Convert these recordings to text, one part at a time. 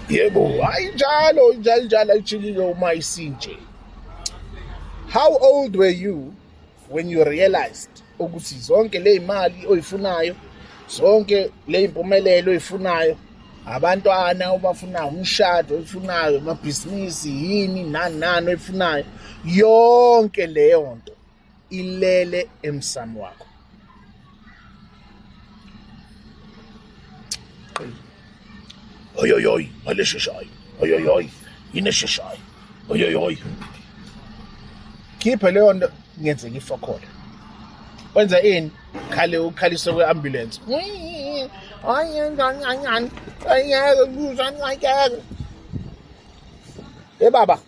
yebo hayi njalo njalo njalo ayijilile uma isinje how old were you when you realized ukuthi zonke le imali oyifunayo zonke le impumelelo oyifunayo abantwana obafunayo umshado oyifunayo amabhizinisi yini nani nani oyifunayo yonke leyo nto ilele emsamo wakho oyoyoy malesheshayo oyoyoy inesheshayo oyoyoy khiphe leyo nto ngenzeka ifokhole wenza ini khale ukhalise kwe-ambulance ayengangangani ayeke kuza ayeke e baba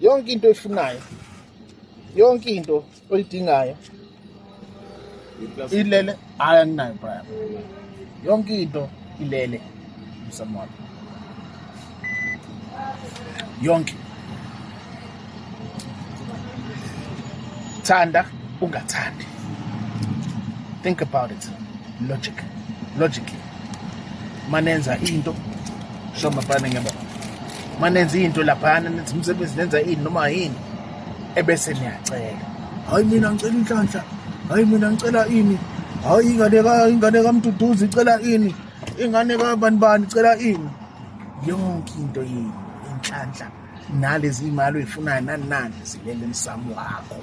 yonke into oyifunayo yonke into oyidingayo ilele hayi anginayo brian yonke into ilele emsamo wami yonke thanda ungathandi think about it logic logically manenza into shomabane ngiyabona manenza into laphana nenza umsebenzi nenza ini noma yini ebese niyacela hayi mina ngicela inhlanhla hayi mina ngicela ini hayi ingane ka ingane kamduduzi icela ini ingane ka bani bani icela ini yonke into yini inhlanhla nalezi imali oyifunayo nani nani zilele emsamo wakho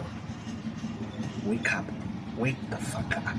wake up wake the fuck up